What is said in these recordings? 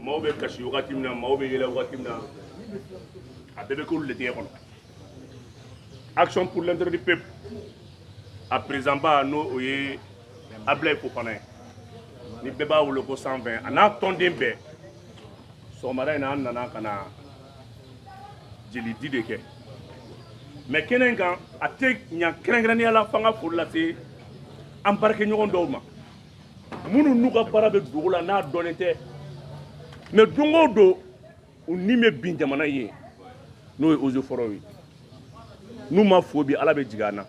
maaw bɛ kasi wagati min na maaw bɛ yɛlɛ wagati min na a bɛɛ bɛ k'olu le denkɛ kɔnɔ action pour l'intérêt du peuple a président ba n'o o ye ablaye fofana ye ni bɛɛ b'a wele ko cent vingt a n'a tɔnden bɛɛ sɔgɔmada in na an nana ka na jelidi de kɛ mais kɛnɛ in kan a tɛ ɲa kɛrɛnkɛrɛnnenya la fo n ka foli lase an baarakɛɲɔgɔn dɔw ma minnu n'u ka baara bɛ dogo la n'a dɔnnen tɛ mais don o don u ni bɛ bin jamana ye n'o ye eaux et forêts ye n'u ma fo bi ala bɛ jigin an na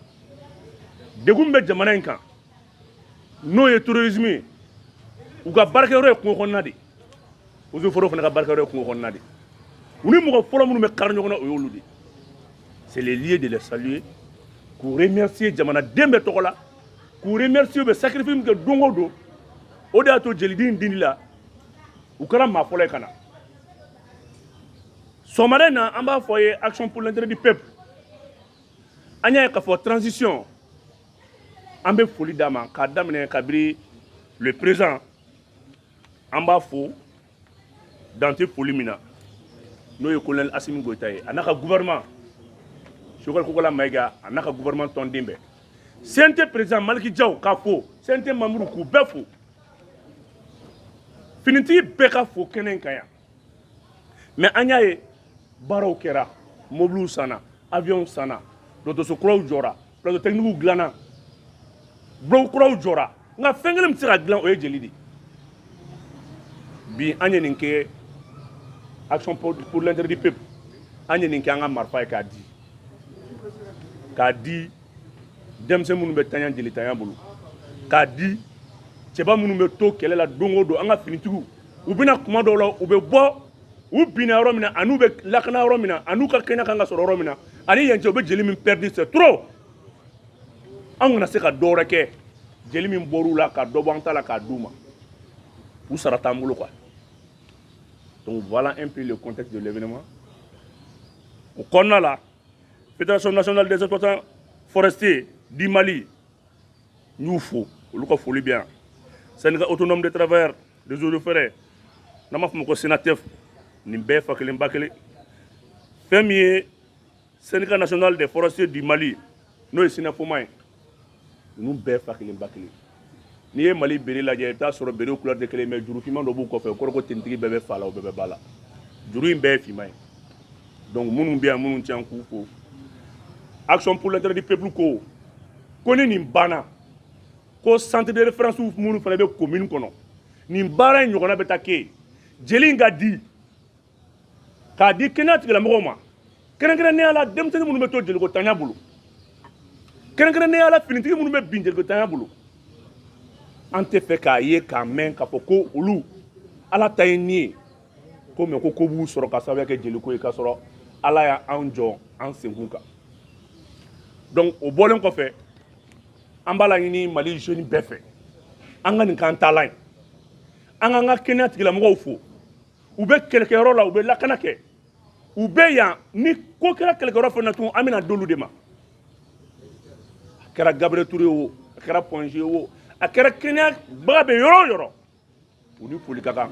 degun bɛ jamana in kan n'o ye terrorisme ye u ka baarakɛyɔrɔ ye kungo kɔnɔna de ye eaux et forêts fana ka baarakɛyɔrɔ ye kungo kɔnɔna de ye u ni mɔgɔ fɔlɔ minnu bɛ kari ɲɔgɔn na o y'olu de ye c'est le lieu de les saluer k'u remercier jamanaden bɛɛ tɔgɔ la k'u remercier u bɛ sacrifice min kɛ don o don o de y'a to jelidi in dili la u kɛra maa fɔlɔ ye ka na sɔgɔmada in na an b'a fɔ a ye action pour l'intérêt du peuple an y'a ye k'a fɔ transition an bɛ foli d'a ma k'a daminɛ kabiri le président an b'a fo dan tɛ foli min na n'o ye colonel asimi goyita ye a n'a ka gouvernement sogɛli kokola mayiga a n'a ka gouvernement tɔnden bɛɛ cnt président maliki jaw k'a fo cnt manburuw k'u bɛɛ fo finitigi bɛɛ k'a fo kɛnɛ in kan yan mais an y'a ye baaraw kɛra mobiliw sanna aviɔnw sanna dɔgɔtɔrɔso kuraw jɔra plateau technique dilanna bloc kuraw jɔra nka fɛn kelen min tɛ se ka dilan o ye jeli de bi an ye nin kɛ action pour l'intérêt du peuple an ye nin kɛ an ka marifa ye k'a di k'a di denmisɛn minnu bɛ tanya jelitanya bolo k'a di cɛba minnu bɛ to kɛlɛ la don o don an ka finitigiw u bɛ na kuma dɔw la u bɛ bɔ u binna yɔrɔ min na an'u bɛ lakana yɔrɔ min na an'u ka kɛnɛya kan ka sɔrɔ yɔrɔ min na ani yan cɛ u bɛ jeli min pɛridi c'est trop an kana se ka dɔ wɛrɛ kɛ jeli min bɔr'u la ka dɔ bɔ an ta la k'a d'u ma u sara t'an bolo quoi donc voilà un peu le contexte de l'événement o kɔnɔna la fédération nationale des exploitants forestiers du mali n y'u fo olu ka foli bɛ yan syndicat autonome de travailleurs des eaux et forêts n'an b'a fɔ ma ko senatef nin bɛɛ fa kelen ba kelen fɛn min ye syndicat national des forestiers du mali n'o ye sinafoma ye ninnu bɛɛ fa kelen ba kelen n'i ye mali béret lajɛ i bɛ t'a sɔrɔ béretw couleur tɛ kelen mais juru finman dɔ b'u kɔfɛ kɔrɔ ko tenue tigi bɛɛ bɛ fa la o bɛɛ bɛ ba la juru in bɛɛ ye finman ye donc minnu bɛ yan minnu tɛ yan k'u fo action pour l'intérêt du peuple ko ko ni nin banna ko centre de référence minnu fana bɛ commune kɔnɔ nin baara in ɲɔgɔnna bɛ taa kɛ yen jeli in ka di k'a di kɛnɛya tigilamɔgɔw ma kɛrɛnkɛrɛnnenya la denmisɛnnin minnu bɛ to jeliko ntanya bolo kɛrɛnkɛrɛnnenya la finitigi minnu bɛ bin jeliko ntanya bolo an tɛ fɛ k'a ye k'a mɛn k'a fɔ ko olu ala ta ye nin ye comme ko ko b'u sɔrɔ k'a sababuya kɛ jeliko ye k'a sɔrɔ ala y'an jɔ an senkun kan donc o bɔlen kɔfɛ an b'a laɲini mali jeune bɛɛ fɛ an ka nin k'an taalan ye an k'an ka kɛnɛya tigilamɔgɔw fo u bɛ kɛlɛkɛyɔrɔ la u bɛ lakana kɛ u bɛ yan ni ko kɛra kɛlɛkɛyɔrɔ fana tun an bɛn'a d'olu de ma a kɛra gabriel ture o a kɛra point g o a kɛra kɛnɛyabaga bɛ yɔrɔ o yɔrɔ u ni foli ka kan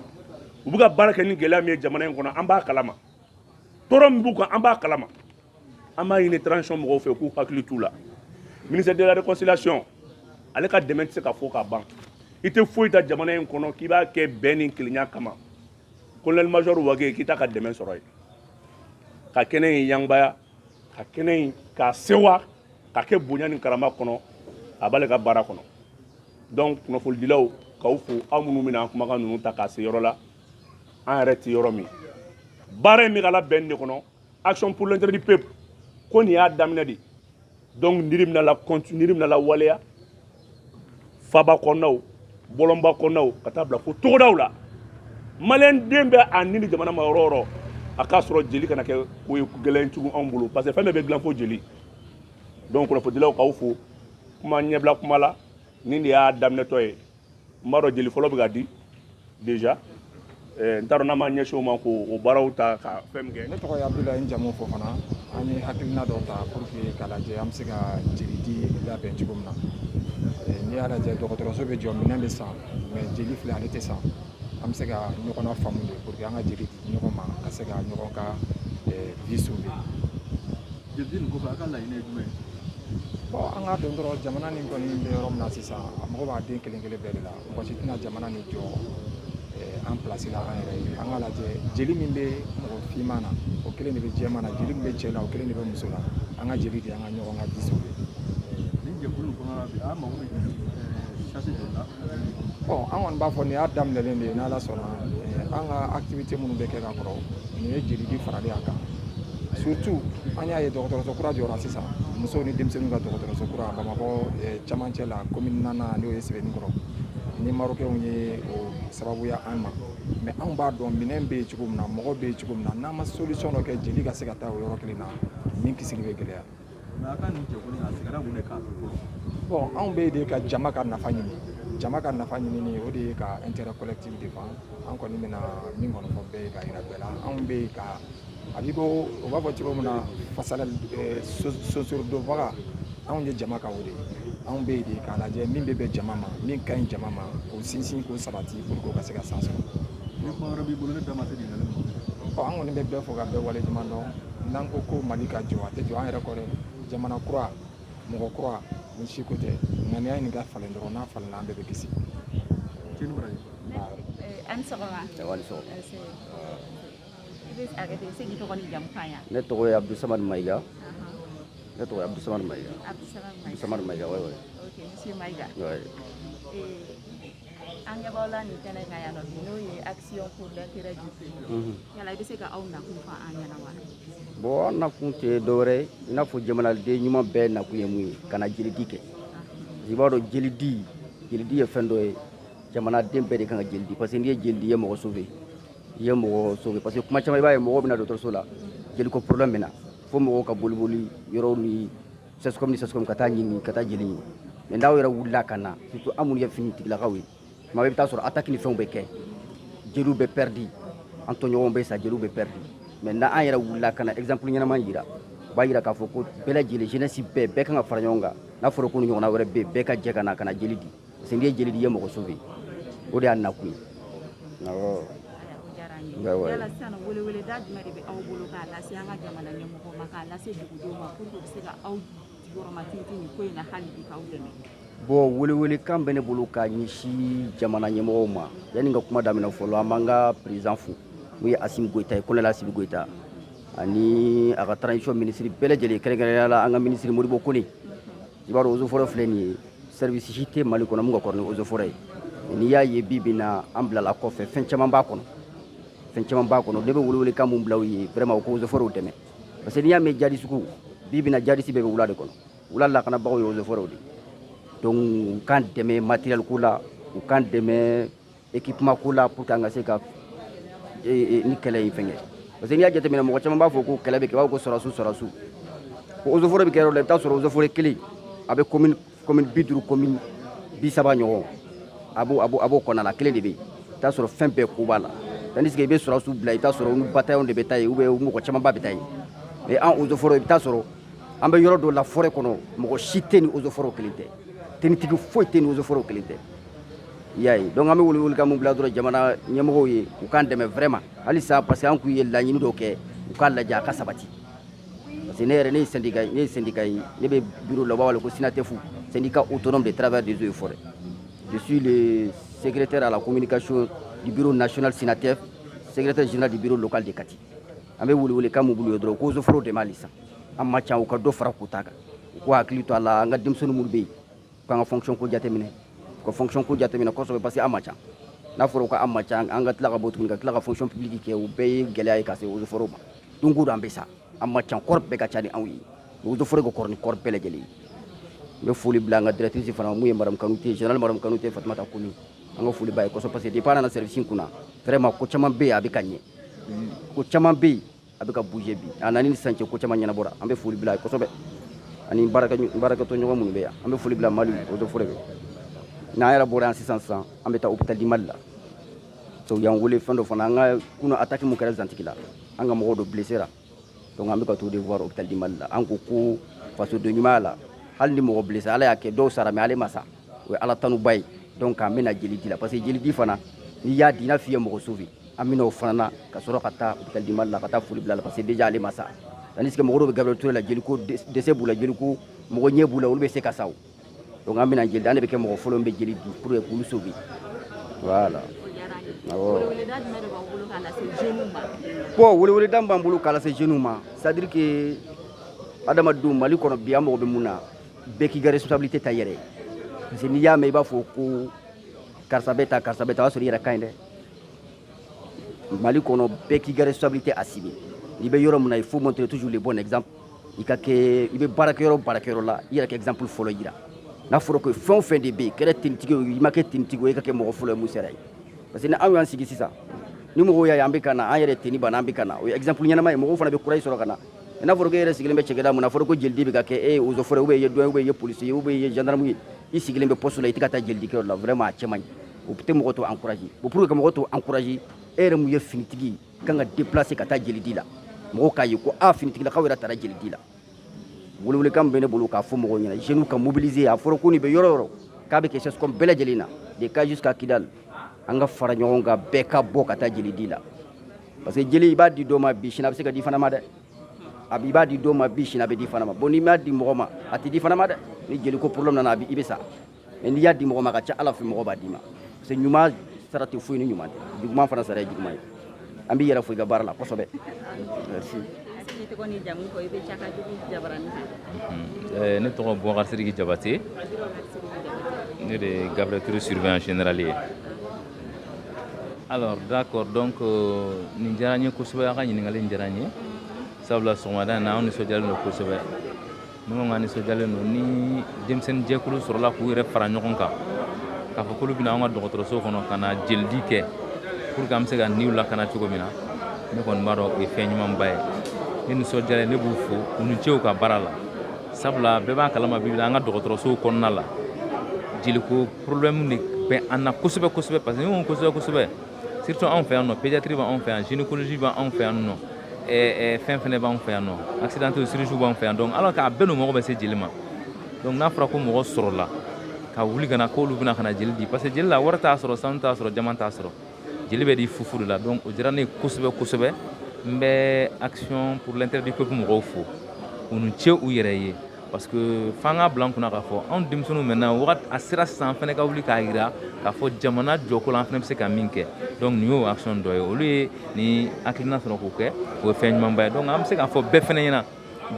u bɛ ka baara kɛ ni gɛlɛya min ye jamana in kɔnɔ an b'a kalama tɔɔrɔ min b'u kan an b'a kalama an b'a ɲini transition mɔgɔw fɛ k'u hakili t'u la ministère de la réconciliation ale ka dɛmɛ tɛ se ka fɔ ka ban i tɛ foyi ta jamana in kɔnɔ k'i b'a kɛ bɛn ni kelenya kama colonel major wage k'i t'a ka dɛmɛ sɔrɔ yen ka kɛnɛ in yangbaya ka kɛnɛ in k'a sewa ka kɛ bonya ni karama kɔnɔ a b'ale ka baara kɔnɔ donc kunnafonidilaw k'aw fo aw minnu bɛna an kumakan ninnu ta k'a se yɔrɔ la an yɛrɛ tɛ yɔrɔ min baara in bɛ ka labɛn de kɔnɔ action pour l'intérêt du peuple ko nin y'a daminɛ de donc niri bɛna la continuer niri bɛna lawaleya faaba kɔnɔnaw bɔlɔnba kɔnɔnaw ka taa bila fo togodaw la maliyɛn den bɛ a ni ni jamana ma yɔrɔ o yɔrɔ a k'a sɔrɔ jeli kana kɛ ko ye gɛlɛn tugun anw bolo parce que fɛn bɛɛ bɛ dilan fo jeli donc kunnafonidilaw k'aw fo kuma ɲɛbila kuma la nin de y'a daminɛtɔ ye n b'a dɔn jeli fɔlɔ bɛ ka di déjà eh, n t'a dɔn n'a ma ɲɛsin o ma k'o baaraw ta ka fɛn min kɛ ne tɔgɔ ye abudulayi n jamu fofana an ye hakilina dɔ ta pour que k'a lajɛ an bɛ se ka jeli di labɛn cogo min na eh, n'i y'a lajɛ dɔgɔtɔrɔso bɛ jɔ minɛn bɛ san mais jeli filɛ ale tɛ san an bɛ se ka ɲɔgɔn nafaamu de pour que an ka jeli di ɲɔgɔn ma ka se ka ɲɔgɔn ka eh, vie sauver Jeli di nin kɔfɛ a ka laɲini ye jumɛn ye? Bon an k'a dɔn dɔrɔn jamana nin kɔni bɛ yɔrɔ min na sisan a mago b'a den kelen kelen bɛɛ de la mɔgɔ si tɛna jamana nin jɔ eh, an place la an yɛrɛ ye an k'a lajɛ jeli min bɛ mɔgɔ finman na o kelen de bɛ jɛman na jeli min bɛ cɛ la o kelen de bɛ muso la an ka jeli di an ka ɲɔgɔn ka vie sauver. Nin jɛkulu in kɔnɔna na bi a mago bɛ eh, sachet joli la? an kɔni b'a fɔ nin y'a daminɛlen de ye n'ala sɔnna an ka activité minnu bɛ kɛ ka kɔrɔ nin ye jeli di faralen a kan surtout an y'a ye dɔgɔtɔrɔso kura jɔra sisan musow ni denmisɛnninw ka dɔgɔtɔrɔso kura bamakɔ cɛmancɛ la commune naaninan n'o ye sɛbɛnnikɔrɔ ni marokɛnw ye o sababuya an ma mais anw b'a dɔn minɛn bɛ yen cogo min na mɔgɔ bɛ yen cogo min na n'an ma solution dɔ kɛ jeli ka se ka taa o yɔrɔ kelen na min kisili bɛ gɛlɛya bon anw bɛ yen de ka jama ka nafa ɲini jama ka nafa ɲinini o de ye ka intérêt collectif défend an kɔni bɛna min kɔni fɔ bɛɛ ye ka yira bɛɛ la anw bɛ yen ka a b'i ko o b'a fɔ cogo min na fasala sosorodonbaga anw ye jama ka o de ye anw bɛ yen de k'a lajɛ min bɛ bɛn jama ma min ka ɲi jama ma k'o sinsin k'o sabati pour que o ka se ka san sɔrɔ. ni kuma wɛrɛ b'i bolo ne da ma se ɲininkali ma. ɔ an kɔni bɛ bɛɛ fo ka bɛɛ waleɲuman dɔn. n'an ko ko mali ka jɔ a tɛ jɔ an yɛrɛ kɔ dɛ jamana kura mɔgɔ kura nin si ko tɛ ŋaniya nin ka falen dɔrɔn n'a falenna an bɛɛ bɛ kisi ne tɔgɔ ye abdusamad mayiga ne tɔgɔ ye abdusamad mayiga abdusamad mayiga oui oui ok monsieur mayiga oui eh, an ɲɛ b'aw la nin kɛnɛ kan yan nɔ bi n'o ye action pour l'intérêt du peuple mhm. yala i bɛ se ka aw nakun fɔ an ɲɛna wa bon an nakun tɛ dɔwɛrɛ ye i n'a fɔ jamanaden ɲuman bɛɛ nakun ye mun ye ka na jelidi kɛ i b'a dɔn jelidi jelidi ye fɛn dɔ ye jamanaden bɛɛ de kan ka jeli di parce que n'i ye jeli di i ye mɔgɔ sauver i ye mɔgɔ sauver parce que kuma caman i b'a ye mɔgɔw bɛ na dɔgɔtɔrɔso la jeliko problème bɛ na fo mɔgɔw ka boliboli yɔrɔw ni CSCOM ni CSCOM ka taa ɲini ka taa jeli ɲini mais n'anw yɛrɛ wulila ka na surtout an minnu ye finitigilakaw ye tuma bɛɛ i bɛ taa sɔrɔ attaque ni fɛnw bɛ kɛ jeliw bɛ perdu an tɔɲɔgɔnw bɛ sa jeliw bɛ perdu mais n'an yɛrɛ wulila ka na exemple ɲɛnama jira o b'a jira k'a fɔ ko bɛɛ lajɛlen jeunesse bɛɛ bɛɛ kan ka fara ɲɔgɔn kan n'a fɔra ko nin ɲɔgɔnna wɛrɛ bɛ yen bɛɛ ka jɛ ka na ka na jeli di n'i ye jeli di i ye mɔgɔ sauver o de y'an nakun ye yala sisan weleweleda jumɛn de bɛ aw bolo k'a lase an ka jamana ɲɛmɔgɔw ma k'a lase dugudenw ma pour que u bɛ se ka aw jukɔrɔmatintin nin ko in na hali bi k'aw dɛmɛ bon welewelekan bɛ ne bolo ka ɲɛsin jamana ɲɛmɔgɔw ma yanni ka kuma daminɛ fɔlɔ an b'an ka président fo mun ye asimi goyita ye colonel asimi goyita ani a ka transition minisiri bɛɛ lajɛlen kɛrɛnkɛrɛnnenya la an ka minisiri modibo kone i b'a dɔn eaux et forêts filɛ nin ye service si tɛ mali kɔnɔ min ka kɔrɔ ni eaux et forêts ye n'i y'a ye bi bi na an bilala kɔfɛ fɛn caman b'a kɔnɔ fɛn caman b'a kɔnɔ ne bɛ welewelekan mun bila u ye vraiment u ka eaux et forêts dɛmɛ parce que n'i y'a mɛn jadisi ko bi bi na jadisi bɛɛ bɛ wula de kɔnɔ wula lakanabagaw ye eaux et forêts de donc u k'an dɛmɛ matériel ko la u k'an dɛmɛ équipement ko la pour que an ka se ka nin kɛlɛ in fɛnkɛ parce que n'i y'a jateminɛ mɔgɔ caman b'a fɔ ko kɛlɛ bɛ kɛ b'a fɔ ko sɔrɔsiw sɔrɔsiw ko eaux et forêts bɛ kɛ yɔrɔ la i bɛ taa sɔrɔ eaux et forêts kelen a bɛ commune commune bi duuru commune bi saba ɲɔgɔn a b'o a b'o a b'o kɔnɔna la kelen de bɛ yen i bɛ taa sɔrɔ fɛn bɛɛ ko b'a la tandis que i bɛ sɔrɔsiw bila i bɛ taa sɔrɔ u ni bataillon de bɛ taa yen ou bien u mɔgɔ camanba bɛ taa yen mais an eaux et forêts i bɛ taa sɔrɔ an bɛ yɔrɔ dɔ la forêt kɔnɔ mɔgɔ si tɛ ni eaux et forêts kelen tɛ tenitigi foyi tɛ ni eaux et forêts kelen tɛ i y'a ye donc an bɛ welewele kan mun bila dɔrɔn jamana ɲɛmɔgɔw ye u k'an dɛmɛ vraiment halisa parce que an kun ye laɲini dɔw kɛ u k'a lajɛ a ka sabati parce que ne yɛrɛ ne ye syndicat ne ye syndicat ye ne bɛ bureau la u b'a wele ko SYNATEF syndicat autonome des travailleurs des eaux et forêts je suis le secrétaire à la communication du bureau national SYNATEF secrétaire général du bureau local de kati an bɛ welewele kan mun b'u ye dɔrɔn ko eaux et forêts dɛmɛ halisa an ma ca u ka dɔ fara quota kan u k'u hakili to a la an ka denmisɛnnin minnu bɛ yen k'an ka fonction ko jateminɛ ka fonction ko jateminɛ kosɛbɛ parce que an ma ca n'a fɔra ko an ma ca an ka tila ka bɔ tuguni ka tila ka fonction publique kɛ o bɛɛ ye gɛlɛya ye ka se eaux et forêts ma don o don an bɛ sa an ma ca corps bɛɛ ka ca ni anw ye eaux et forêts ka kɔrɔ ni corps bɛɛ lajɛlen ye n bɛ foli bila an ka directrice fana mun ye madame kanute général madame kanute fatumata kɔnɛ an ka foli b'a ye kosɛbɛ parce que depuis a nana service in kunna vraiment ko caman bɛ yen a bɛ ka ɲɛ ko caman bɛ yen a bɛ ka bouger bi a nani ni sisan cɛ ko caman ɲɛnabɔra an bɛ foli bila a ye kosɛbɛ ani baarakɛtɔɲɔgɔn minnu bɛ yan an bɛ foli bila mali eaux et forêts bɛɛ n'an yɛrɛ bɔra yan sisan sisan an bɛ taa hôpital du mali la so y'an wele fɛn dɔ fana an ka kunun attaque min kɛra zantigila an ka mɔgɔw dɔ blessé ra donc an bɛ ka t'o de voir hôpital du mali la an ko ko fasodenɲumanya la hali ni mɔgɔ blessé ala y'a kɛ dɔw sara mais ale ma sa o ye ala tanuba ye donc an bɛ na jelidi la parce que jelidi fana n'i y'a di i n'a f'i ye mɔgɔ sauver an bɛ na o fana na ka sɔrɔ ka taa hôpital du Mali la ka taa foli bila a la parce que déjà ale ma sa tandis que mɔgɔ dɔw bɛ Gabriel Toure la jeliko dɛsɛ b'u la jeliko mɔgɔ ɲɛ b'u la olu bɛ se ka sa o donc an bɛna jeli an de bɛ kɛ mɔgɔ fɔlɔ min bɛ jeli di pour que k'olu sauver voilà awɔ bon weleweleda min b'an bolo k'a lase jeunes ma c'est à dire que adamadenw Mali kɔnɔ bi an mago bɛ mun na bɛɛ k'i ka responsabilité ta i yɛrɛ ye parce que n'i y'a mɛn i b'a fɔ ko karisa bɛ ta karisa bɛ ta o y'a sɔrɔ i yɛrɛ ka ɲi dɛ mali kɔnɔ bɛɛ k'i ka responsabilité assumer n'i bɛ yɔrɔ min na il faut montrer toujours le bon exemple i ka kɛ i bɛ baarakɛyɔrɔ o baarakɛyɔrɔ la i yɛrɛ ka exemple fɔlɔ yira n'a fɔra ko fɛn o fɛn de bɛ yen kɛra tenitigi ye i ma kɛ tenitigi ye i ka kɛ mɔgɔ fɔlɔ ye mun sera ye parce que ni anw y'an sigi sisan ni mɔgɔw y'a ye an bɛ ka na an yɛrɛ teni b'an na an bɛ ka na o ye exemple ɲɛnama ye mɔgɔw fana bɛ courage sɔrɔ ka na n'a fɔra ko e yɛrɛ sigilen bɛ cakɛda mun na a fɔra ko jelidi bɛ ka kɛ e ye eaux et forêts ou bien i ye douane ou bien i ye polisi ye ou bien i ye gendarme ye i sigilen bɛ poste la i tɛ ka taa jelidikɛyɔrɔ la vraiment a cɛ man ɲi o tɛ mɔgɔ tɔw encourager bon pour que ka mɔgɔ tɔw encourager e yɛrɛ mun ye finitigi ye i kan ka déplacer ka taa jelidi la mɔgɔw k'a ye ko a finitigilakaw yɛrɛ taara jelidi la welewelekan bɛ ne bolo k'a fɔ mɔgɔw ɲɛna jeunes ka mobiliser a fɔra ko n'i bɛ yɔrɔ o yɔrɔ k'a bɛ kɛ CSCOM bɛɛ lajɛlen na de Kayes jusqu'à kidal an ka fara ɲɔgɔn kan bɛɛ ka bɔ ka taa jelidi la parce que jeli i b'a di dɔ ma bi sini a bɛ se ka di fana ma dɛ a b'i b'a di dɔ ma bi sini a bɛ di fana ma bon n'i m'a di mɔgɔ ma a tɛ di fana ma dɛ ni jeliko problème nana a bɛ i bɛ sa mais n'i y'a di mɔgɔ ma a ka ca ala fɛ mɔgɔ b'a d'i ma parce que ɲuman sara tɛ foyi ni ɲuman tɛ juguman fana sara ye juguman ye an b'i yɛrɛ fo i ka baara la kosɛbɛ merci ne tɔgɔ bubakar sidiki jabate ne de ye gabriel touré surveillant général ye alors d'accord donc euh, nin diyara n ye kosɛbɛ a ka ɲininkali in diyara n ye sabula sɔgɔmada in na an nisɔndiyalen don kosɛbɛ ne ko n ka nisɔndiyalen don ni denmisɛnnin jɛkulu sɔrɔla k'u yɛrɛ fara ɲɔgɔn kan k'a fɔ k'olu bɛ na an ka dɔgɔtɔrɔso kɔnɔ ka na jelidi kɛ pour que an bɛ se ka niw lakana cogo min na ne kɔni b'a dɔn o ye fɛn ɲumanba ye ne nisɔndiyalen ne b'u fo u ni ce u ka baara la sabula bɛɛ b'a kalama bi bi la an ka dɔgɔtɔrɔsow kɔnɔna la jeliko problème de bɛ an na kosɛbɛ kosɛbɛ parce que ne ko kosɛbɛ kosɛbɛ surtout anw fɛ yan nɔ pédiatrie b'anw fɛ yan gynécologie b'anw fɛ yan nɔ ɛɛ fɛn fɛnɛ b'anw fɛ yan nɔ accidenté chirurgie b'anw fɛ yan donc alors k'a bɛɛ n'u mago bɛ se jeli ma donc n'a fɔra ko mɔgɔ sɔrɔla ka wuli ka na k'olu bɛ na ka na jeli di parce que jeli la wari t'a sɔrɔ sanu t'a sɔrɔ jaman t'a sɔrɔ jeli bɛ di fu fu de la donc o diyara ne ye kosɛbɛ kosɛbɛ n bɛ action pour l'intérêt du peuple mɔgɔw fo u ni ce u yɛrɛ ye parce que f'an k'a bila an kunna k'a fɔ anw denmisɛnninw maintenant wagati a sera sisan an fana ka wuli k'a jira k'a fɔ jamana jɔko la an fana bɛ se ka min kɛ donc nin y'o action dɔ ye olu ye nin hakilina sɔrɔ k'o kɛ o ye fɛn ɲumanba ye donc an bɛ se k'a fɔ bɛɛ fana ɲɛna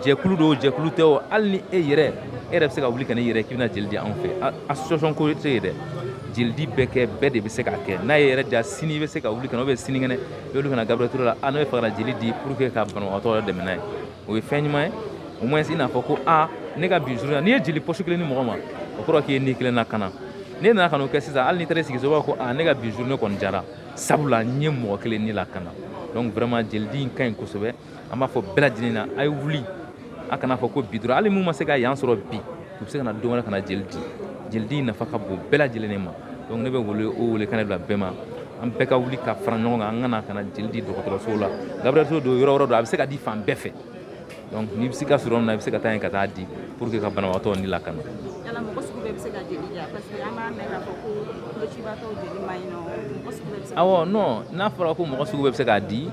jɛkulu don jɛkulu tɛ o hali ni e yɛrɛ e yɛrɛ bɛ se ka wuli ka n'i yɛrɛ k'i bɛna jeli di anw fɛ association ko tɛ yen dɛ jelidi bɛɛ kɛ bɛɛ de bɛ se k'a kɛ n'a y'i yɛrɛ diya sini i bɛ se ka wuli ka na ou bien sinikɛnɛ i bɛ wuli ka na gabriel touré la a ne b'a fɛ ka na jeli di pour que ka banabagatɔ yɛrɛ dɛmɛ n'a ye o ye fɛn ɲuman ye au moins i n'a fɔ ko a ne ka bi journée n'i ye jeli poche kelen ni mɔgɔ ma o kɔrɔ k'i ye ni kelen lakana ne nana ka n'o kɛ sisan hali n'i taara i sigi so b'a fɔ ko a ne ka bi journée kɔni diyara sabula n ye mɔgɔ kelen ni lakana donc vraiment jelidi in ka ɲi kosɛbɛ an b'a fɔ bɛɛ lajɛlen na a ye wuli a kana fɔ ko bi dɔrɔn hali minnu ma se ka yan sɔrɔ bi u bɛ se ka na don wɛrɛ ka na jeli di jeli di nafa ka bon bɛɛ lajɛlen de ma donc ne bɛ welekan de bila bɛɛ ma an bɛɛ ka wuli ka fara ɲɔgɔn kan an ka na ka na jeli di dɔgɔtɔrɔsow la gabriel touré don yɔrɔ yɔrɔ don a bɛ se ka di fan bɛɛ fɛ donc n'i bɛ se ka surun min na i bɛ se ka taa yen ka taa di pour que ka banabagatɔ ni lakana yala mɔgɔ sugu bɛɛ bɛ se ka jeli di parce que an b'a mɛn k'a fɔ ko kolocibaatɔw jeli man ɲi nɔ mɔgɔ sugu bɛɛ bɛ se awɔ non n'a fɔra ko mɔgɔ sugu bɛɛ bɛ se k'a di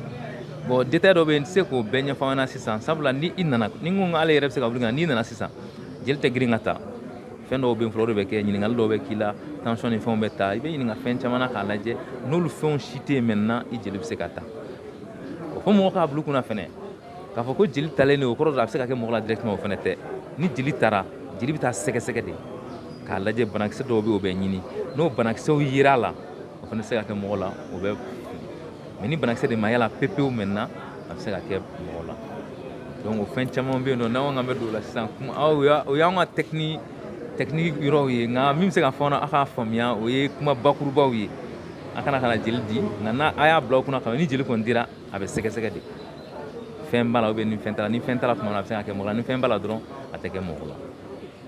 bon détail dɔ bɛ yen n tɛ se k'o bɛɛ ɲɛfɔ an ɲɛna sisan sabula ni i nana ni n ko k'ale yɛrɛ bɛ se ka wuli ka n'i nana sisan jeli tɛ girin ka ta fɛn dɔw bɛ yen fɔlɔ o de bɛ kɛ ɲininkali dɔw bɛ k'i la tension ni fɛnw bɛ ta i bɛ ɲininka fɛn caman na k'a lajɛ n'olu fɛnw si tɛ yen maintenant i jeli bɛ se ka ta o fɔ mɔgɔ k'a bila u kunna fɛnɛ k'a fɔ ko jeli talen de o kɔrɔ dɔrɔn a bɛ se ka kɛ mɔgɔ la directement o fɛnɛ tɛ ni jeli tara jeli bɛ taa sɛgɛsɛgɛ de k'a lajɛ banakisɛ dɔw bɛ yen o bɛ ɲini n'o banakisɛw yera a la o fɛnɛ tɛ se ka kɛ mɔgɔ la o bɛ mais ni banakisɛ de ma ye a la pepewu maintenant a bɛ se ka kɛ mɔgɔ la donc o fɛn caman bɛ yen nɔ n'an ko k'an bɛ don o la sisan kuma o y'an ka tɛkini technique yɔrɔw ye nka min bɛ se ka fɔ aw k'a faamuya o ye kuma bakurubaw ye a ka na ka na jeli di nka n'a a y'a bila aw kunna ko ni jeli kɔni dira a bɛ sɛgɛsɛgɛ de fɛn b'a la ou bien ni fɛn t'a la ni fɛn t'a la tuma min na a bɛ se ka kɛ mɔgɔ la ni fɛn b'a la dɔrɔn a tɛ kɛ mɔgɔ la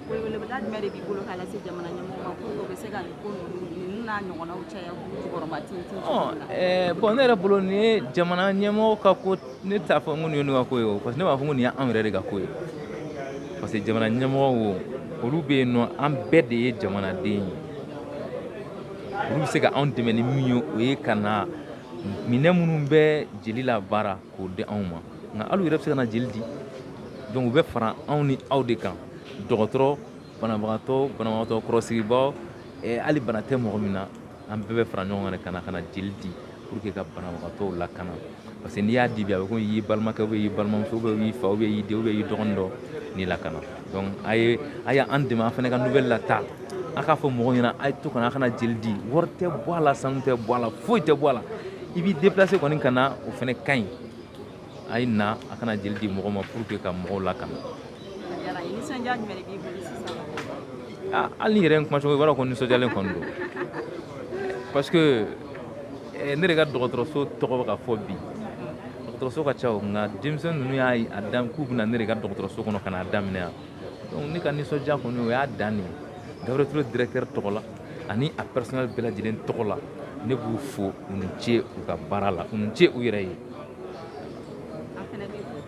Weleweleda jumɛn de b'i bolo k'a lase jamana ɲɛmɔgɔw ma pour que u bɛ se ka nin ko ninnu ninnu n'a ɲɔgɔnnaw caya k'u jukɔrɔma tintin Ɔ, cogo min na? eh, bon ne yɛrɛ bolo nin ye jamana ɲɛmɔgɔ ka ko ne t'a fɔ n ko nin ye ne ka ko ye o parce que ne b'a fɔ n ko nin ye anw yɛrɛ de ka ko ye parce que jamana ɲɛmɔgɔw olu bɛ yen nɔ an bɛɛ de ye jamanaden ye olu bɛ se ka anw dɛmɛ ni min ye o ye ka na minɛn minnu bɛ jeli labaara k'o di anw ma nka hali u yɛrɛ bɛ se ka na jeli di donc u bɛ fara anw ni aw de kan dɔgɔtɔrɔ banabagatɔ banabagatɔ kɔrɔsigibaaw eh, hali bana tɛ mɔgɔ min na an bɛɛ bɛ fara ɲɔgɔn kan de ka na ka na jeli di pour que ka banabagatɔw lakana parce que n'i y'a di bi a bɛ komi i y'i balimakɛ ou bien i y'i balimamuso ou bien i y'i fa ou bien i y'i den ou bien i y'i dɔgɔnin dɔ ni lakana donc a ye a ye an dɛmɛ an fana ka nouvelle lataa a k'a fɔ mɔgɔw ɲɛna a ye to ka na a ka na jeli di wari tɛ bɔ a la sanu tɛ bɔ a la foyi tɛ bɔ a la i b'i déplacer kɔni ka na o fana ka ɲi a ye na a ka na jeli di mɔgɔ ma pour que ka mɔgɔw lakana hali n'i yɛrɛ ye n kumacogo i b'a dɔn ko nisɔndiyalen kɔni don parce que eh, ne de ka dɔgɔtɔrɔso tɔgɔ bɛ ka fɔ bi dɔgɔtɔrɔso ka ca o nka denmisɛnnin ninnu y'a a dan k'u bɛ na ne de ka dɔgɔtɔrɔso kɔnɔ ka n'a daminɛ yan donc ne ka nisɔndiya kɔni o y'a dan de ye Gabriel Touré directeur tɔgɔ la ani a personnel bɛɛ lajɛlen tɔgɔ la ne b'u fo u ni ce u ka baara la u ni ce u yɛrɛ ye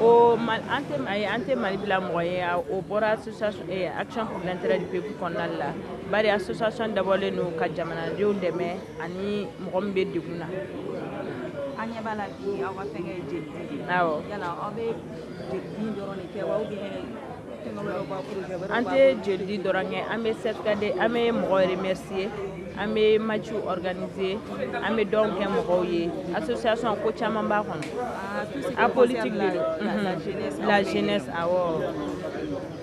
o an tɛ ayi an tɛ Mali bila mɔgɔ ye o bɔra association action pour l'intérêt du peuple kɔnɔna de la bari association dabɔlen don ka jamanadenw dɛmɛ ani mɔgɔ min bɛ degun na an ɲɛ b'a la bi aw ka fɛnkɛ ye jelidi de ye awɔ yala aw bɛ jelidi in dɔrɔn de kɛ wa ou bien an tɛ jelidi dɔrɔn kɛ an bɛ certificat di an bɛ mɔgɔ remercier an bɛ match organiser an bɛ donw kɛ mɔgɔw ye association ko caman b'a kɔnɔ apolitique de don mhm. la jeunesse awɔ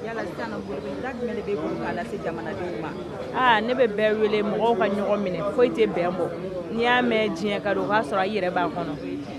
yala sisan nɔ weleweleda jumɛn de b'e bolo k'a lase jamanadenw ma aa ne bɛ bɛɛ wele mɔgɔw ka ɲɔgɔn minɛ foyi tɛ bɛn bɔ n'i y'a mɛn diɲɛ ka don o k'a sɔrɔ i yɛrɛ b'a kɔnɔ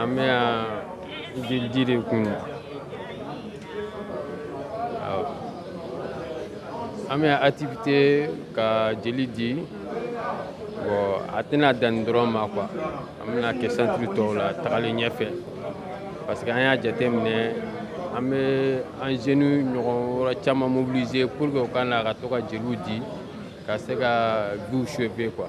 an bɛ yan jeli di de kun an bɛ activité ka jeli di bon a tɛna danni dɔrɔn ma quoi an bɛna kɛ centre tɔw la tagalen ɲɛfɛ parce que an y'a jateminɛ an bɛ an jeunes ɲɔgɔn wɛrɛ caman mobiliser pour que u ka na ka to ka jeliw di ka se ka view sauver quoi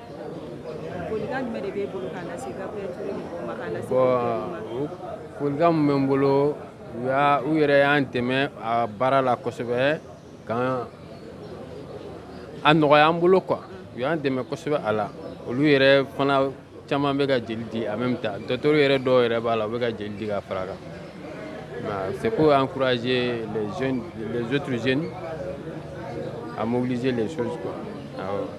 folikan jumɛn de b'e bolo k'a lase Gabriel Touré mɔgɔw ma k'a lase bon folikan min bɛ n bolo u y'a u yɛrɛ y'an dɛmɛ a baara la kosɛbɛ kan a nɔgɔya an bolo quoi u y'an dɛmɛ kosɛbɛ a la olu yɛrɛ fana caman bɛ ka jeli di en même temps docteurw yɛrɛ dɔw yɛrɛ b'a la u bɛ ka jeli di ka fara kan c'est pour encourager les jeunes les autres jeunes à mobiliser les choses quoi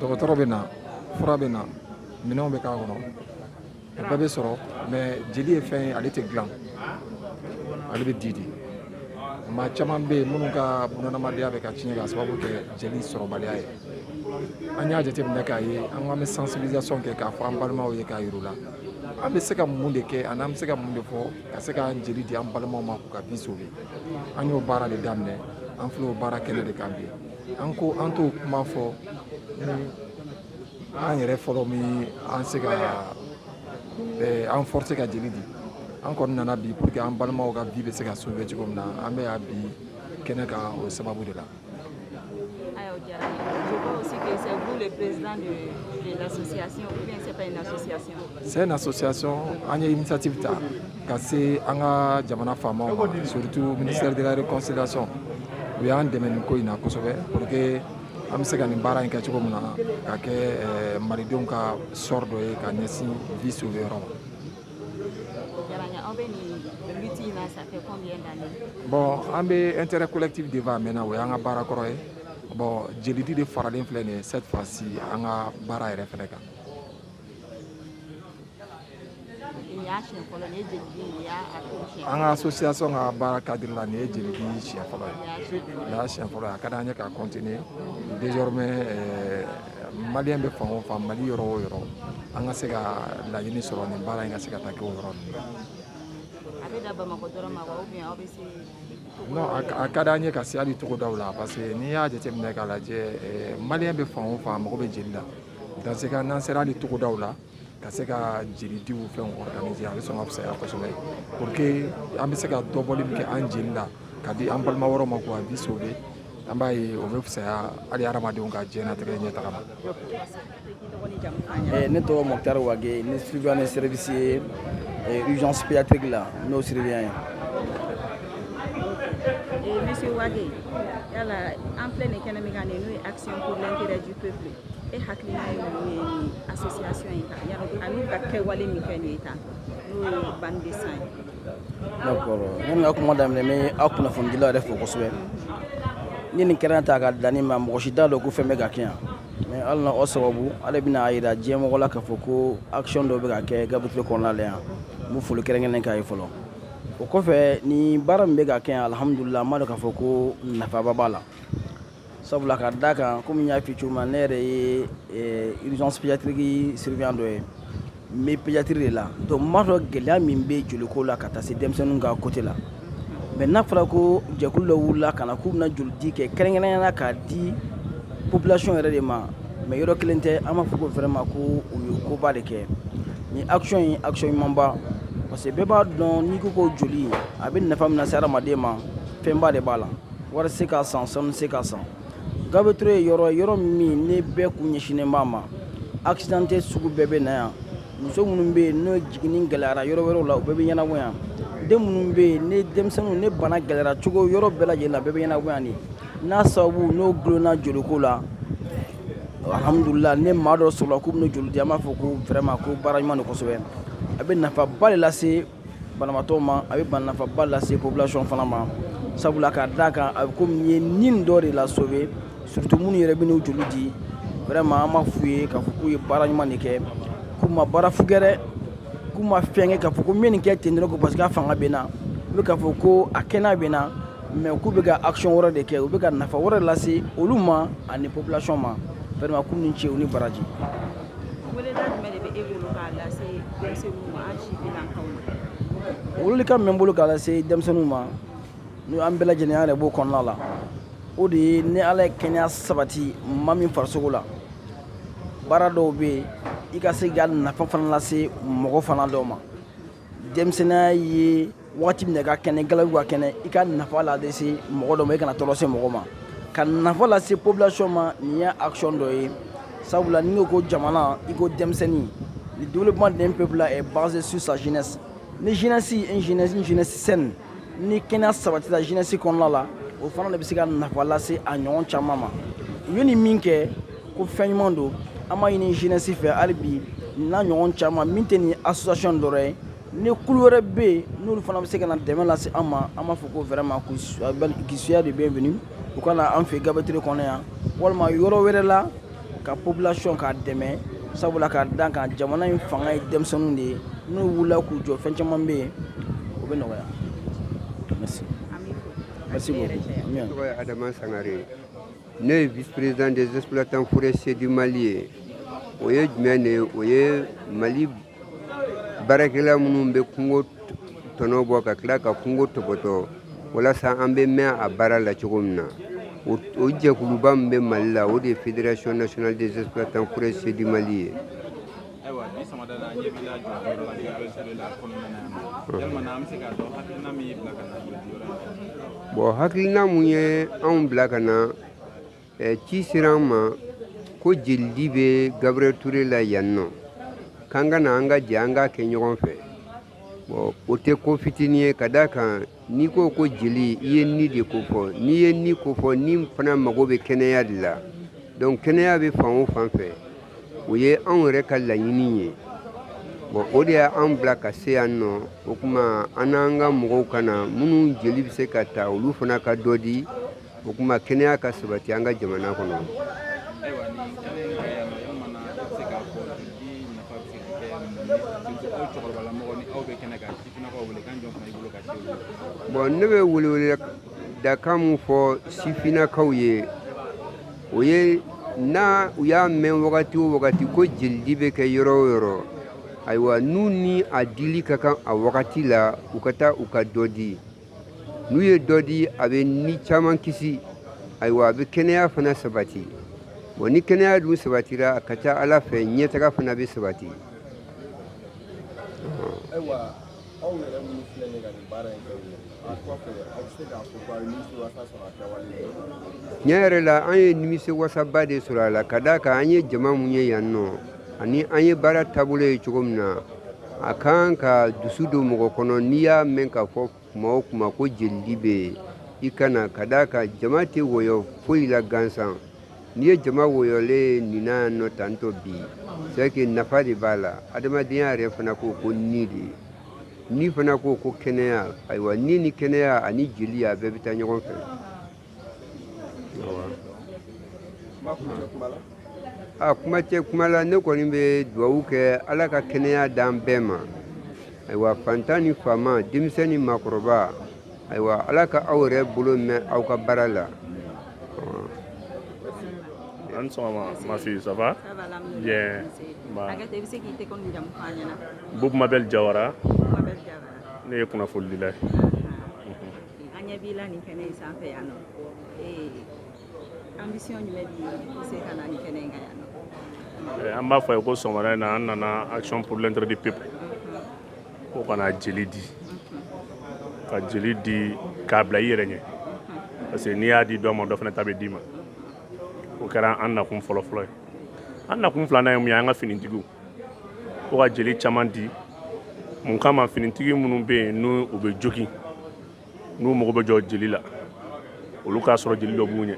dɔgɔtɔrɔ bɛ na fura bɛ na minɛnw bɛ k'a kɔnɔ o bɛɛ bɛ sɔrɔ mais jeli ye fɛn ye ale tɛ dilan ale bɛ di de maa caman bɛ yen minnu ka bunadamadenya bɛ ka tiɲɛ k'a sababu kɛ jeli sɔrɔbaliya ye an y'a jateminɛ k'a ye an k'an bɛ sensibilisation kɛ k'a fɔ an balimaw ye k'a yir'u la an bɛ se ka mun de kɛ ani an bɛ se ka mun de fɔ ka se k'an jeli di an balimaw ma k'u ka vie sauver an y'o baara de daminɛ an filɛ o baara kɛnɛ de kan bi an ko an t'o kuma fɔ ni an yɛrɛ fɔlɔ min an se ka eh, an forcer ka jeli di an kɔni nana bi pour que an balimaw ka vie bɛ se ka sauver cogo min na an bɛ yan bi kɛnɛ kan o sababu de la c'est une association an ye initiative ta ka se an ka jamana faamaw ma surtout ministère de la réconciliation u y'an dɛmɛ nin ko in na kosɛbɛ pour que an bɛ se ka nin baara in kɛ cogo min na ka kɛ eh, malidenw ka sɔrɔ dɔ ye ka ɲɛsin vie sauver yɔrɔ ma bon an bɛ intérêt collectif défendre mɛnna o y'an ka baara kɔrɔ ye bon jelidi de faralen filɛ nin ye cette fois ci an ka baara yɛrɛ fɛnɛ kan an ka association ka baara cadre la nin ye jelidi siɲɛ fɔlɔ ye nin y'a siɲɛ fɔlɔ ye a ka d'an ye ka continuer désormais euh, maliyɛn bɛ fan o fan mali yɔrɔ o yɔrɔ an ka se ka laɲini sɔrɔ nin baara in ka se ka taa kɛ o yɔrɔ ninnu na a bɛ dan bamakɔ dɔrɔn ma wa ou bien aw bɛ se non a ka d'an ye ka se hali togodaw la parce que n'i y'a jateminɛ k'a lajɛ euh, maliyɛn bɛ fan o fan a mago bɛ jeli la dans ce cas n'an sera hali togodaw la ka se ka jelidiw fɛn organiser a bɛ sɔn ka fisaya kosɛbɛ pour que an bɛ se ka dɔ bɔli min kɛ an jeli la ka di an balima wɛrɛw ma k'u ka vie sauver an b'a ye o bɛ fisaya hali hadamadenw ka diɲɛnatigɛ ɲɛtaga ma eh, ne tɔgɔ mokutari wage ne surveillant ne service ye eh, urgence pédiatrique la n'o surveillant ye eh, monsieur wage yala an filɛ nin kɛnɛ min kan nin n'o ye action pour l'intérêt du peuple e hakili yanni ka kuma daminɛ n bɛ aw kunnafonidilaw yɛrɛ fo kosɛbɛ ni nin kɛra ta ka dan ma mɔgɔ si t'a dɔn ko fɛn bɛ ka kɛ yan mais ala n'aw sababu ala bɛna a jira diɲɛ mɔgɔ la k'a fɔ ko action dɔ bɛ ka kɛ gabriel touré kɔnɔna la yan n bɛ foli kɛrɛnkɛrɛnnen k'a ye fɔlɔ o kɔfɛ ni baara min bɛ ka kɛ yan alhamdulila an b'a dɔn k'a fɔ ko nafaba b'a la sabula k'a da kan komi n y'a f'i cogo min ne yɛrɛ ye eh, urgence pédiatrique surveillant dɔ ye n bɛ pédiatrie de la donc n b'a dɔn gɛlɛya min bɛ joliko la ka taa se denmisɛnninw ka côté la mais n'a fɔra ko jɛkulu dɔ wulila ka na k'u bɛna jolidi kɛ kɛrɛnkɛrɛnnenya la k'a di population yɛrɛ de ma mais yɔrɔ kelen tɛ an b'a fɔ ko vraiment ko u ye koba de kɛ ni action ye action ɲumanba parce que bɛɛ b'a dɔn n'i ko ko joli a bɛ nafa min lase hadamaden ma fɛnba de b'a la wari se k'a san sanu se k'a san gabriel touré ye yɔrɔ yɔrɔ min ni bɛɛ kun ɲɛsinnen b'a ma accidenté sugu bɛɛ bɛ na yan muso minnu bɛ yen n'o jiginni gɛlɛyara yɔrɔ wɛrɛw la u bɛɛ bɛ ɲɛnabɔ yan den minnu bɛ yen ni denmisɛnninw ni bana gɛlɛyara cogo yɔrɔ bɛɛ lajɛlen la bɛɛ bɛ ɲɛnabɔ yan de n'a sababu n'o gulonna joliko la alhamdulila ni maa dɔ sɔrɔla k'u bɛna joli di an b'a fɔ ko vraiment ko baara ɲuman don kosɛbɛ a bɛ nafaba de lase banabaatɔ ma a bɛ nafaba lase population fana ma sabula k'a da kan a bɛ komi i ye ni dɔ de la sauver surtout minnu yɛrɛ bɛ n'u joli di vraiment an b'a f'u ye k'a fɔ k'u ye baara ɲuman de kɛ k'u ma baara fu kɛ dɛ k'u ma fɛn kɛ k'a fɔ ko n bɛ nin kɛ ten dɔrɔn ko parce que a fanga bɛ n na u bɛ k'a fɔ ko a kɛnɛ bɛ n na mais k'u bɛ ka action wɛrɛ de kɛ u bɛ ka nafa wɛrɛ lase olu ma ani population ma vraiment k'u ni ce u ni baraji weleda jumɛn de bɛ e bolo k'a lase denmisɛnninw ma an sifinnakaw ma welelikan min bɛ n bolo k'a lase denmisɛnninw ma n'o an bɛɛ lajɛlen an yɛrɛ b'o kɔnɔna la o de ye ni ala ye kɛnɛya sabati maa min farisogo la baara dɔw bɛ yen i ka se ka nafa fana lase mɔgɔ fana dɔw ma denmisɛnninya ye wagati min na i ka kɛnɛ galabu ka kɛnɛ i ka nafa la de se mɔgɔ dɔ ma i kana tɔɔrɔ se mɔgɔ ma ka nafa lase population ma nin ye action dɔ ye sabula n'i ko ko jamana i ko denmisɛnnin le développement d'un peuple là est basé sur sa jeunesse ni jeunesse une jeunesse saine ni kɛnɛya sabatila jeunesse kɔnɔna la o fana de bɛ se ka nafa lase a ɲɔgɔn caman ma u ye nin min kɛ ko fɛn ɲuman don an b'a ɲini jeunesse fɛ hali bi n'a ɲɔgɔn caman min tɛ nin association dɔrɔn ye ni kulu wɛrɛ bɛ yen n'olu fana bɛ se ka na dɛmɛ lase an ma an b'a fɔ ko vraiment qu'ils soient de bienvenus u ka na an fɛ Gabriel Touré kɔnɔ yan walima yɔrɔ wɛrɛ la ka population k'a dɛmɛ sabula ka d'a kan jamana in fanga ye denmisɛnninw de ye n'u wulila k'u jɔ fɛn caman bɛ yen o bɛ nɔgɔya merci merci beaucoup Adama Sangare ne ye vice président des exploitants forestiers du mali ye o ye jumɛn de ye o ye mali baarakɛla minnu bɛ kungo tɔnɔ bɔ ka tila ka kungo topoto walasa an bɛ mɛn a baara la cogo min na o jɛkuluba min bɛ mali la o de ye fédération nationale des exploitants forestiers du mali ye ayiwa bi sɔgɔmada la ɲɛ b'i la joli yɔrɔ la gabriel ture la kɔnɔna na yan nɔ yalima na an bɛ se k'a dɔn hakilina min y'i bila ka na joli yɔrɔ in na bɔn hakilina mun ye anw bila ka na eh, ci sera an ma ko jelidi bɛ gabriel ture la yan nɔ k'an ka na an ka jɛ an k'a kɛ ɲɔgɔn fɛ bɔn o tɛ ko fitinin ye ka d'a kan N'i ko ko jeli i ye ni de ko fɔ n'i ye ni ko fɔ ni fana mago bɛ kɛnɛya de la donc kɛnɛya bɛ fan o fan fɛ o ye anw yɛrɛ ka laɲini ye bɔn o de ye anw bila ka se yan nɔ o tuma an n'an ka mɔgɔw ka na minnu jeli bɛ se ka ta olu fana ka dɔ di o tuma kɛnɛya ka sabati an ka jamana kɔnɔ bɔn ne bɛ welewele dakan min fɔ sifinnakaw ye o ye n'u y'a mɛn wagati o wagati ko jelidi bɛ kɛ yɔrɔ o yɔrɔ ayiwa n'u ni a dili ka kan a wagati la u ka taa u ka dɔ di n'u ye dɔ di a bɛ ni caman kisi ayiwa a bɛ kɛnɛya fana sabati bon ni kɛnɛya dun sabatira a ka ca a la fɛ ɲɛtaga fana bɛ sabati ayiwa aw yɛrɛ minnu filɛ nin ka nin baara in kɛ a kɔfɛ aw bɛ se k'a fɔ ko a ye nimisiwasa sɔrɔ a kɛwale tiɲɛ yɛrɛ la an ye nimisiwasaba de sɔrɔ a la ka d'a kan an ye jama min ye yan nɔ ani an ye baara taabolo ye cogo min na a kan ka dusu don mɔgɔ kɔnɔ n'i y'a mɛn k'a fɔ kuma o kuma ko jelidi bɛ yen i ka na ka d'a kan jama tɛ wɔyɔ foyi la gansan n'i ye jama wɔyɔlen ye nin na yan nɔ tantɔ bi c'est que nafa de b'a la adamadenya yɛrɛ fana ko ko ni de ni fana ko ko kɛnɛya ayiwa ni ni kɛnɛya ani jeli a bɛɛ bɛ taa ɲɔgɔn fɛ a kuma cɛ kuma la ne kɔni bɛ dugawu kɛ ala ka kɛnɛya d'an bɛɛ ma ayiwa fantan ni faama denmisɛn ni maakɔrɔba ayiwa ala ka aw yɛrɛ bolo mɛn aw ka baara la an sɔgɔma ma fille ça va bien bob mabel jawara ne ye kunnafonidila ye an ɲɛ b'i la nin kɛnɛ in sanfɛ yan nɔ ambition jumɛn b'i se ka na nin kɛnɛ in kan yan nɔ eh, an b'a fɔ aw ye ko sɔgɔmada in na an nana action pour l'intérêt du peuple ko ka na jeli di ka jeli di k'a bila i yɛrɛ ɲɛ parce que n'i y'a di dɔ ma dɔ fana ta bɛ d'i ma o kɛra an nakun fɔlɔfɔlɔ ye an nakun filanan ye mun ye an ka finitigiw ko ka jeli caman di mun kama finitigi minnu bɛ yen ni u bɛ jogi n'u mago bɛ jɔ jeli la olu k'a sɔrɔ jeli dɔ b'u ɲɛ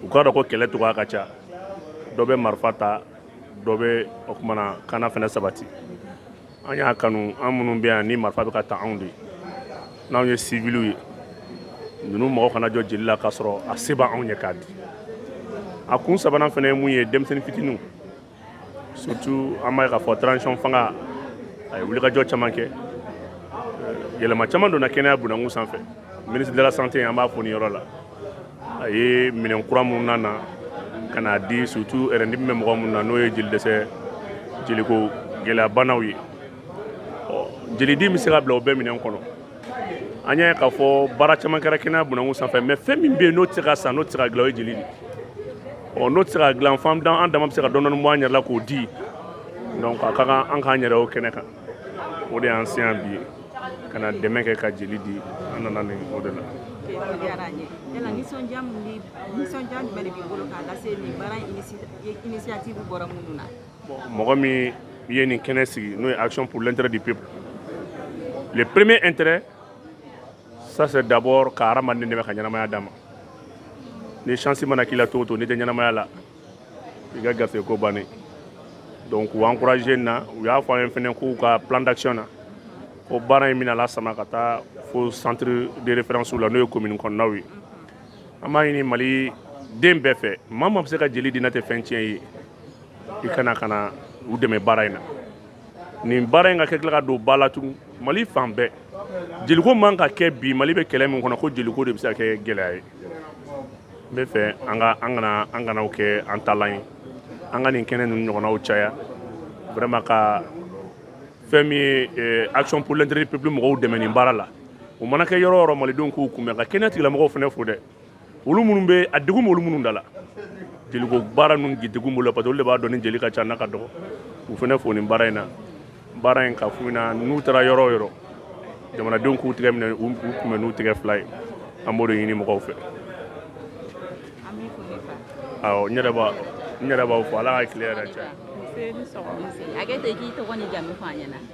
u k'a dɔn ko kɛlɛ cogoya ka ca dɔ bɛ marifa ta dɔ bɛ o kumana kana fɛnɛ sabati an y'a kanu an minnu bɛ yan ni marifa bɛ ka ta anw de ye n'anw ye siviliw ye ninnu mago kana jɔ jeli la k'a sɔrɔ a se b'anw ye k'a di a kun sabanan fɛnɛ ye mun ye denmisɛnnin fitiniw surtout an b'a ye k'a fɔ transition fanga a ye wulikajɔ caman kɛ yɛlɛma caman donna kɛnɛya bunakun sanfɛ ministre de la santé an b'a fo nin yɔrɔ la a ye minɛn kura minnu nana ka n'a di surtout rein dimi bɛ mɔgɔ minnu na n'o ye jeli dɛsɛ jeliko gɛlɛyabanaw ye ɔ jeli de bɛ se ka bila o bɛɛ minɛn kɔnɔ an y'a ye k'a fɔ baara caman kɛra kɛnɛya bunakun sanfɛ mais fɛn min bɛ yen n'o tɛ se ka san n'o tɛ se ka dilan o ye jeli de ɔ n'o tɛ se ka dilan f'an dan an dama bɛ se ka dɔɔni bɔ an yɛrɛ la k'o di donc a ka kan an k'an yɛrɛ o kɛnɛ kan o de y'an se yan bi ka na dɛmɛ kɛ ka jeli di an nana nin o de la diyara n ye yala nisɔndiya min bɛ nisɔndiya jumɛn de b'i bolo k'a lase nin baara initiative bɔra minnu na mɔgɔ min ye nin kɛnɛ sigi n'o ye action pour l'intérêt du peuple le premier intérêt ça c'est d'abord ka hadamaden dɛmɛ ka ɲɛnamaya d'a ma ni chance mana k'i la cogo o cogo n'i tɛ ɲɛnamaya la i ka gafe ko bannen donc u encouragé na u y'a fɔ an ye fɛnɛ k'u ka plan d'action na ko baara in bɛna lasama ka taa fo centre de référence la n'o ye commune kɔnɔnaw ye an b'a ɲini mali den bɛɛ fɛ maa maa bɛ se ka jeli di n'a tɛ fɛn tiɲɛ ye i ka na ka na u dɛmɛ baara in na nin baara in ka kɛ tila ka don ba la tugun mali fan bɛɛ jeliko man ka kɛ bi mali bɛ kɛlɛ min kɔnɔ ko jeliko de bɛ se ka kɛ gɛlɛya ye n bɛ fɛ an ka an kana an kana o kɛ an dalan ye an ka nin kɛnɛ ninnu ɲɔgɔnnaw caya vraiment ka fɛn min ye eh, action pour l'intérêt du peuple mɔgɔw dɛmɛ nin baara la o mana kɛ yɔrɔ o yɔrɔ malidenw k'u kunbɛn ka kɛnɛ tigilamɔgɔw fana fo dɛ olu minnu bɛ a degun b'olu minnu da la jeliko baara ninnu degun b'olu la parce que olu de b'a dɔn ni jeli ka ca n'a ka dɔgɔ u fana fo nin baara in na baara in ka f'u ɲɛna n'u taara yɔrɔ o yɔrɔ jamanadenw k'u tɛgɛ minɛ u kunbɛn n'u tɛgɛ fila ye an b'o de ɲini mɔgɔw fɛ awɔ n yɛrɛ b'a n yɛrɛ b'aw fo ala ka tile hɛrɛ caya. Nse, ni sɔgɔma. Hakɛ to i k'i tɔgɔ n'i jamu fɔ an ɲɛna.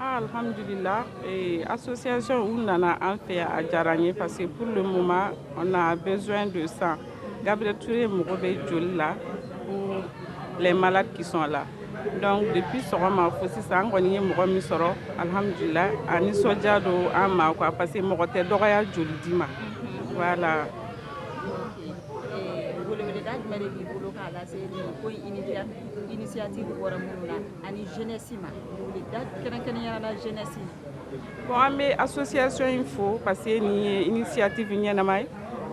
Ah, alhamdulillah et association u nana an fɛ yan a diyara n ye parce que pour le moment on a besoin de sang Gabriel Touré mago bɛ joli la pour les malades qui sont là donc depuis sɔgɔma fo sisan an kɔni ye mɔgɔ min sɔrɔ alhamdulillah a nisɔndiya don an ma quoi parce que mɔgɔ tɛ dɔgɔya joli di ma voilà. Weleweleda jumɛn de b'i bolo k'a lase nin ko in initiative bɔra minnu na. ani jeunesse ma kɛrɛnkɛrɛnnenya la jeunesse bon an bɛ association in fo parce que nin ye initiative ɲɛnama ye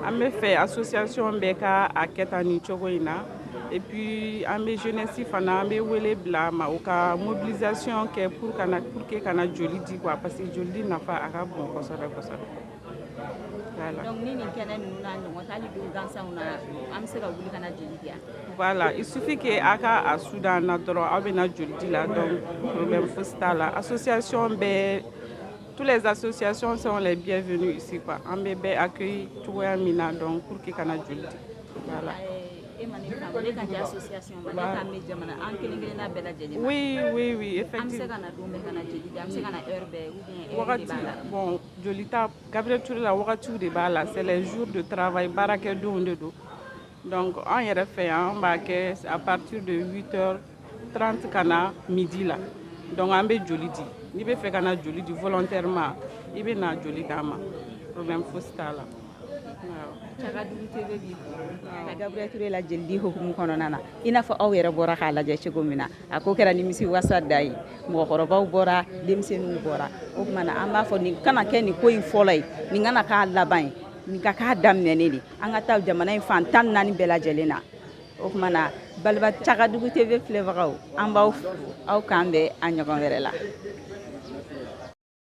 an bɛ fɛ association bɛɛ ka a kɛ tan nin cogo in na et puis an bɛ jeunesse fana an bɛ wele bila a ma u ka mobilisation kɛ pour ka na pour que ka na joli di quoi parce que joli di nafa a ka bon kosɛbɛ kosɛbɛ donc ni nin kɛnɛ ninnu n'a ɲɔgɔn tɛ hali don gansanw na an bɛ se ka wuli ka na jeli di yan voilà il suffit que a ka a su d'an na dɔrɔn aw bɛ na joli di la donc problème fosi t'a la association bɛɛ tous les associations sont les bienvenues ici quoi an bɛ bɛɛ accueilli cogoya min na donc pour que ka na joli di voilà eh, oui oui oui effectivement an bɛ se ka na don bɛɛ ka na jeli di an bɛ se ka na heure bɛɛ ou bien heure de b'a la bon jolita Gabriel Toure la wagatiw de b'a la c'est les jours de travail baarakɛdonw de don donc an yɛrɛ fɛ yan an b'a kɛ à partir de 8 heures 30 ka na midi la donc an bɛ joli di n'i bɛ fɛ ka na joli di volontairement i bɛ na joli d'an ma problème fosi t'a la. Cagadugu TV b'i fo ka Gabriel Toure la jelidi hukumu kɔnɔna na i n'a fɔ aw yɛrɛ bɔra k'a lajɛ cogo min na a ko kɛra nimisiwasa da ye mɔgɔkɔrɔbaw bɔra denmisɛnninw bɔra o tuma na an b'a fɔ nin kana kɛ nin ko in fɔlɔ ye nin kana k'a laban ye nin ka k'a daminɛnen ye an ka taa jamana in fan tan naani bɛɛ lajɛlen na o tuma na baliba cagadugu tv filɛbagaw an b'aw kanbɛn a ɲɔgɔn wɛrɛ la